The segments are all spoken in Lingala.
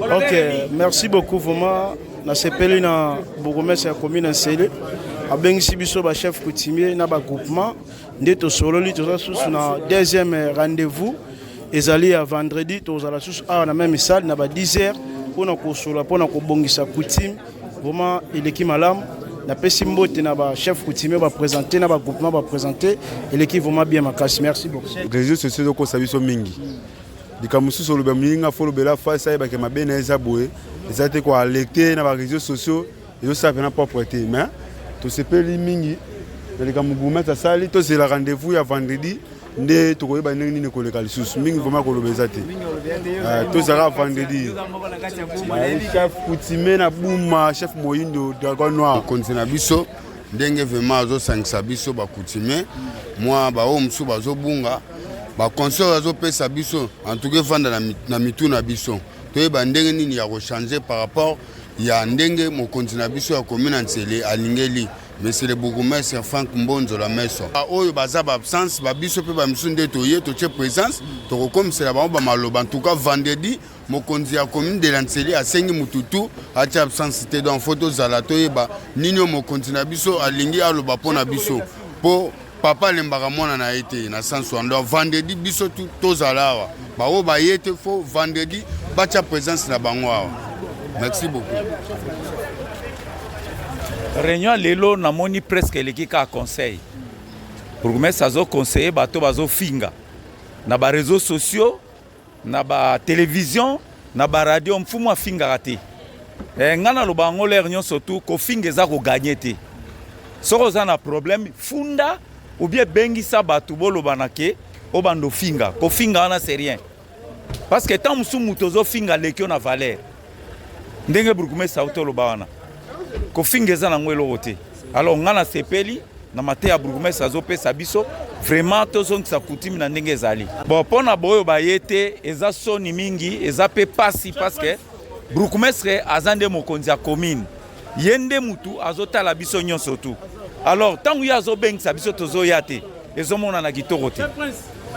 Ok, merci beaucoup vraiment. nasepeli na bourgmestre ya commune nsele abengisi biso bachef coutumier na bagroupement nde tosololi toza susu na deuxième rendez-vous ezali ya vendredi tozala susu awa na meme salle na ba 10 heures mpo na kosolola mpo na kobongisa coutume vraiment eleki malamu napesi mbote na bachef coutumier baprésente na bagroupement baprésente eleki vraiment bien makasi merci beaucoup réseau sociaux ezokosa biso mingi Likambo mosusu olobi ya moninga fo olobela face ayebake mabe na ye eza boye eza te kwa lecte na ba réseaux sociaux ezosala mpena propre te mais tosepeli mingi na likambo gourmet asali tozela rendez-vous ya vendredi nde tokoyeba ndenge nini koleka lisusu mingi vraimen koloba eza te ah, tozalaka vendredi ah, chef coutume na buma chef moyindo dragon noir mokonzi na biso ndenge vraimen azosangisa biso bacoutume mwa baoyo mosusu bazobunga ba conseil azopesa biso antuka efanda na, na mitu na biso toyeba ndenge nini ya kochange par rapport ya ndenge mokonzi na biso ya komi na nsele alingeli monsieur le bourgmestre frank mbonzo la meso baoyo baza baabsence babiso mpe bamisusu nde toye totie présence tokokomisela bango bamaloba ntuka vendredi mokonzi ya commune de la nseli asengi mutu tu atia absence te donc fo tozala toyeba nini oyo mokonzi na biso alingi aloba mpo na biso mpo papa alembaka mwana na ye te na sens wana donc vendredi biso tu tozala awa baoyo baye te fo vendredi batia présence na bango awa merci beaucoup réunion lelo namoni presque eleki kaka conseil bourgmestre azoconseille bato bazofinga na bareseau sociaux Na ba television, na ba radio mfumu afingaka te. Eh, nga na loba ngo l'air nyoso tout kofinga eza ko gagner te. Soko za na problème funda ou bien bengisa batu boloba na ke obando finga. Kofinga wana c'est rien. Parce que tant musu mutu ozo finga lekio na valeur. ndenge burgumestre auti oloba wana kofinga eza nango eloko te alors ngai nasepeli na mate ya burgumestre azopesa biso vraiment tozongisa kutimi na ndenge ezali bon mpo na baoyo baye te eza soni mingi eza mpe pasi parceke burgumestre aza nde mokonzi ya commune ye nde motu azotala biso nyonso tu alors ntango ye azobengisa biso tozoya te ezomonana kitoko te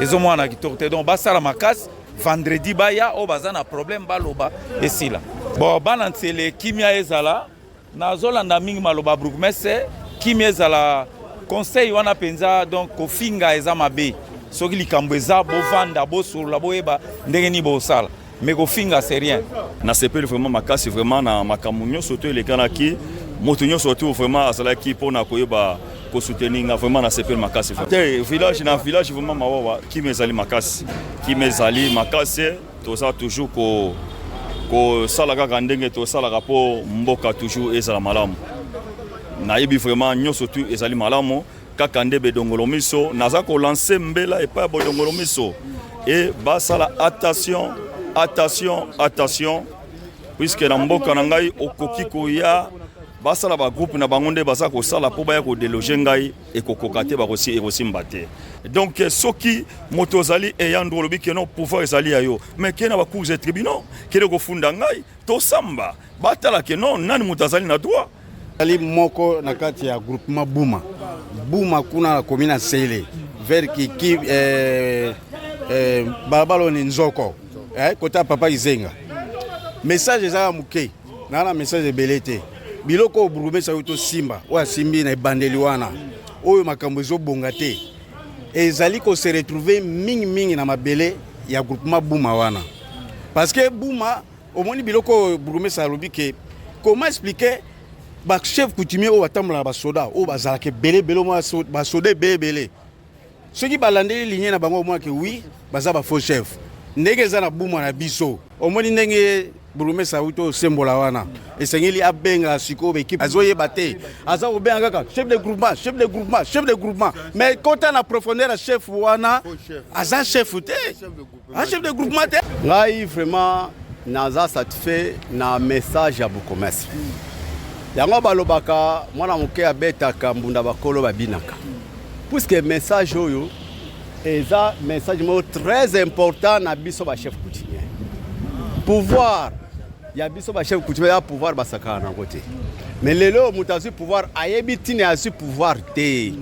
ezomonana kitoko te donc basala makasi vendredi baya oyo baza na problème baloba esila bon bana nsele kimia ezala nazolanda mingi maloba bourgmestre kimia ezala conseil wana mpenza donc kofinga eza mabe soki likambo eza bovanda bosolola boyeba ndenge nini bosala mais kofinga c'est rien nasepeli vraiment makasi vraiment na makambo nyonso to elekanaki moto nyonso tu vraiment azalaki mpo na koyeba ko soutenir nga vraiment na sepel makasi te village na village vraiment mawawa kimi ezali makasi kimi ezali makasi toza toujours ko kosala kaka ndenge tosalaka mpo mboka toujours ezala malamu nayebi vraiment nyonso tu ezali malamu kaka nde bedongolo miso naza kolanse mbela epai ya bodongolo miso e basala attention attention attention puiske na mboka na ngai okoki koya basala ba groupe na bango nde baza kosala mpo baya kodeloge ngai ekokoka te bakosi ekosimba te donc eh, soki moto ozali eyandro olobi ke non pouvoir ezali ya yo mais ke na bacours ya tribunal kende kofunda ngai tosamba batala ke non nani moto azali na droit ali moko na kati ya groupement buma buma kuna na komi na sele vers kiki eh, eh, balabala oni nzoko eh, kota papa izenga message eza ya moke na na message ebele te biloko oyo bourgmestre ayo tosimba oyo asimbi na ebandeli wana oyo makambo ezobonga te ezali kose retrouve mingimingi na mabele ya groupement buma wana parce que buma omoni biloko oyo bourgmestre alobi ke comment expliquer bachef coutumier oyo batambola na basoda oyo bazalaka ebele ebele basoda ebele ebele soki balandeli ligne na bango omwake wi baza ba faux chef ndenge eza na buma na biso omoni ndenge burumesa auti osembola wana esengeli abenga sikoyo baekipe azoyeba te aza kobenga kaka chef de groupement chef de groupement chef de groupement mais kota na profondeur ya chef wana aza chef te Un chef de groupement te. Ngai vraiment naza satisfait na message ya bokomasi. Yango balobaka mwana moke abetaka mbunda bakolo babinaka. Puisque message oyo eza message moko très important na biso ba chef coutumier. Pouvoir ya biso ba chef coutumier ya pouvoir basakana nango te. me lelo oyo moto azwi pouvoir ayebi ntina azwi pouvoir te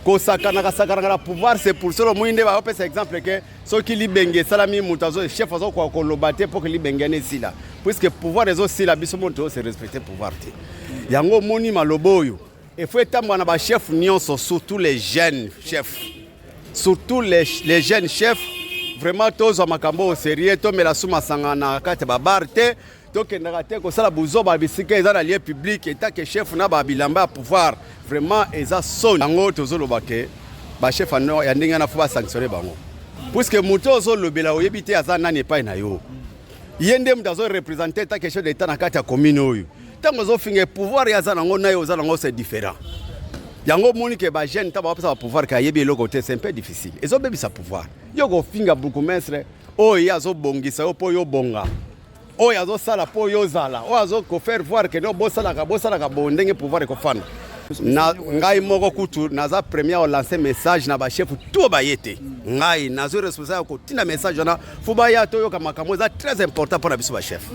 kosakanaka sakanaka na pouvoir c'est pour solo moi nde baopesa exemple ke soki libenge esalami moto azo chef azokoka koloba te mpo ke libenge wana esila puiske pouvoir ezosila biso moto toose respecte pouvoir te yango omoni maloba oyo efo etambwa na bachef nyonso surtout les jeunes chefs surtout les, les jeunes chefs vraiment tozwa makambo oyo sérieux tomela su masanga na kati ya babar te tokendaka te kosala buzoba bisika eza na lieu public etake chef na ba bilamba ya pouvoir vraiment eza soni yango tozoloba ke bachef ya ndenge wana fo basanctionne bango puiske moto oyo ozolobela oyebi te aza nani epai na yo ye nde moto azorepresente etake chef d'etat na kati ya commune oyo ntango azofinga pouvoir ye aza nango naye oza nango se différent yango omoni ke bajeune ntango bapesa bapouvoir ke ayebi eloko te c'est un peu difficile ezobebisa pouvoir yo kofinga bourgmestre oyo ye azobongisa yo mpo yo bonga oyo azosala mpo yo ozala oyo azo kofaire voir ke no bosalaka bosalaka bo ndenge pouvoir ekofanda na ngai moko kutu naza premier olanse message na bashefu to baye te ngai nazwi responsable ya kotinda message wana fo baya toyoka makambo eza très important mpo na biso bashefu